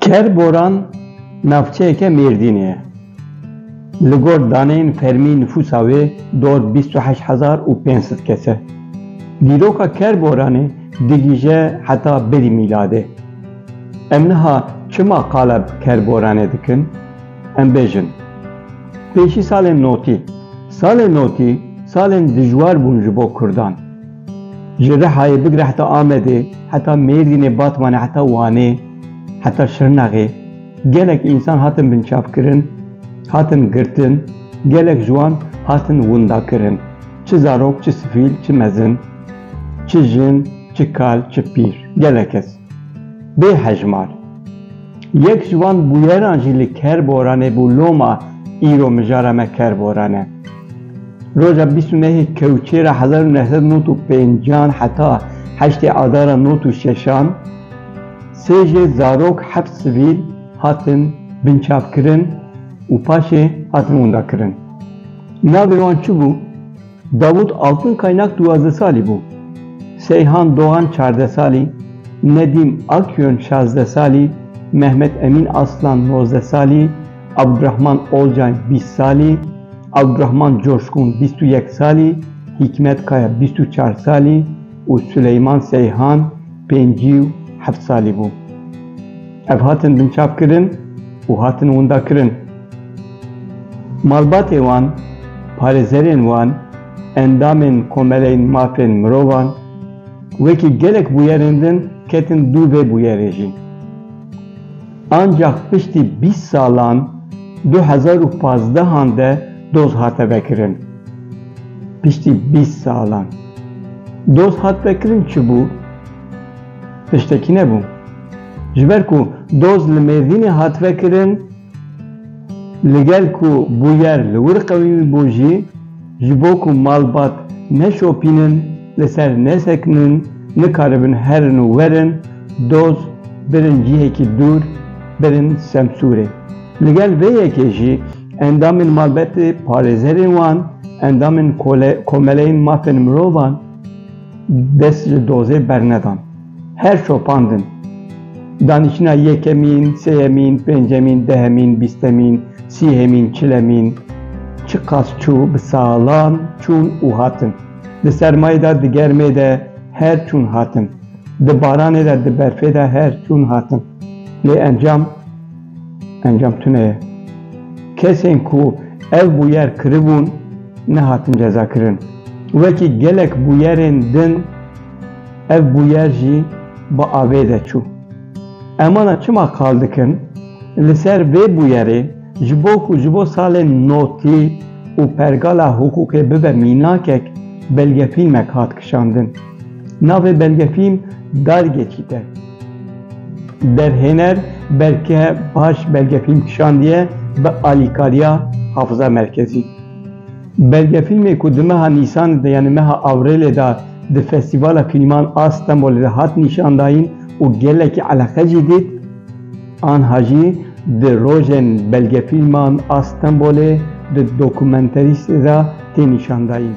Ker Boran navçeyeke Mêrdînê ye. Li gor daneyên fermî nifûsa wê dor bîst û heşt hezar û pênc sed kes e. Dîroka Ker Boranê digihîje heta berî mîladê. Em niha çima qala bi Ker Boranê dikin? Em bêjin, pêşî salên notî, salên notî salên dijwar bûn ji bo kurdan. Ji Rihayê bigire heta Amedê, heta Mêrdînê, Batmanê, heta Wanê, heta Şirnexê gelek însan hatin binçavkirin, hatin girtin, gelek ji wan hatin windakirin, çi zarok, çi sivîl, çi mezin, çi jin, çi kal, çi pîr, gelek kes. Bê hejmar. Yek ji wan bûyeran jî li Kerboranê bû loma îro mijara me Kerboran e. Roja bîst û nehê Kewçêra hezar û neh sed û nod û pênc an heta heştê Adara nod û şeş an sê jê zarok heft sivîl hatin binçavkirin û paşê hatin windakirin. Navê wan çi bû? Davut Altın Kaynak duwazdeh salî bû, Seyhan Doğan çardeh salî, Nedim Akyön şazdeh salî, Mehmet Emin Aslan nozdeh salî, Abdurahman Olcay bîst salî, Abdurahman Coşkun bîst û yek salî, Hîkmet Kaya bîst û çar salî û Suleyman Seyhan pêncî û heft salî bû. Ev hatin binçavkirin û hatin windakirin. Malbatê wan, parêzerên wan, endamên komeleyên mafên mirovan, wekî gelek bûyerên din ketin dû vê bûyerê jî. Ancax piştî bîst salan du hezar û pazdeh-an de doz hate vekirin. Piştî bîst salan. Doz hat vekirin çi bû? Tiştekî nebû. Ji ber ku doz li Mêrdînê hat vekirin, Li gel ku bûyer li wir qewî bû jî, ji bo ku malbat neşopînin, li ser nesekinin, nikaribin herin û werin, doz birin cihekî dûr, birin Semsûrê. Li gel vê yekê jî endamên malbatê, parêzerên wan, endamên Komeleyên Mafên Mirovan dest ji dozê bernedan. Her şopandin, danîştina yekemîn, sêyemîn, pêncemîn, dehemîn, bîstemîn, sîhemîn, çilemîn, çiqas çû, bi salan çûn û hatin. Di sermayê de, di germê de her çûn hatin. Di baranê de, di berfê de her çûn hatin. Lê encam, encam tune ye. Kesên ku ev bûyer kiribûn nehatin cezakirin. Wekî gelek bûyerên din, Ev bûyer jî bi avê de çû. Emana çima kal dikin, li ser vê bûyerê ji bo ku ji bo salên notlî û pergala hiqûqê bibe mînakek belgefîlmek hat kişandin. Navê belgefîlm Dargeçît e. Derhêner belke paş belgefîlm kişandiye bi alîkariya Hafiza Merkezî. Belgefîlmê ku di meha Nîsanê de yanî meha Awrêlê de di Festîvala Kînîman a Stenbolê de hat nîşandayîn û gelekî eleqe jî dît, anha jî di Rojên Belgefîlman a Stenbolê di Dokumenterîstê de tê nîşandayîn.